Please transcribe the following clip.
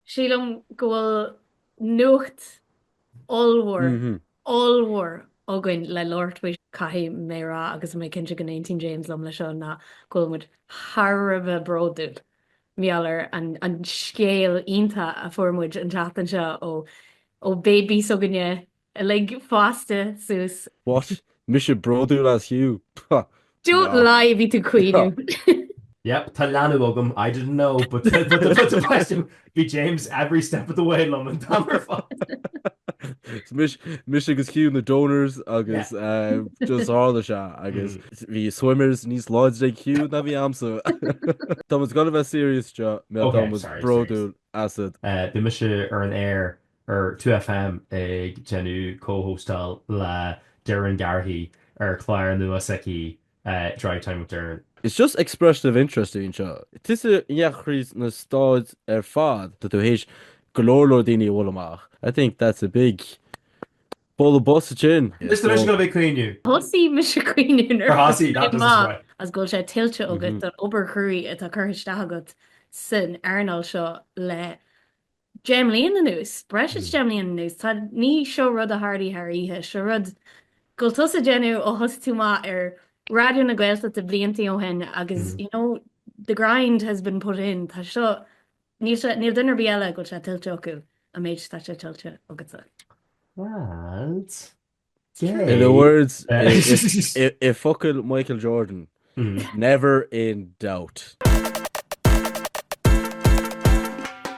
Sílim go bhfuil nuacht ollmhór, ollmhór againn le labhairt faoi. Caithfidh mé a rá, agus mé cinnte go n-aontaíonn James liom leis seo, ná go bhfuil muid thar a bheith bródúil mar gheall ar an scéal iontach a fuair muid an tseachtain seo ó bébí s'againne, Uilig fásta suas. What? Mise bródúil as Hugh? Pah! Don't Ná. lie, bhí tú ag caoineadh. Yep, tá leanbh agam, I didn't know, but bhí James every step of the way liom an t-am ar fad. Mise agus Hugh na donors agus just tharla sé agus bhí swimmers níos láidre ag Hugh ná bhí a'msa. Táimid gan a bheith serious seo, tá muid bródúil asat. Bhí mise ar an aer ar 2FM ag déanamh comhóstáil le Doireann Garrihy ar chlár nua s'aici Drivetime with Doireann. It's just expression of interest a bhí ann seo. Tusa across na Stáit ar fad, tá tú th'éis go leor leor daoine a bhualadh amach. I think that's a big bualadh bos ansin. Mr. Mise go bhfuil caoineadh. Thosaigh mise caoineadh nuair a thosaigh that doesn't surprise. as go bhfuil sé tuillte agat don obair chruaidh atá curtha isteach agat san earnáil seo le deich mbliain anuas, breis is deich mbliain anuas, tá, ní, seo rud a tharla thar oíche, seo rud go bhfuil tusa á dhéanamh ó thosaigh tú amach ar Raidió na Gaeltachta blianta ó shin agus, you know, the grind has been put in, tá seo, níl sé, níl duine ar bith eile go bhfuil sé tuillte acu an méid atá sé tuillte agatsa. Lads. In the words, i bhfocail Michael Jordan, mm. never in doubt.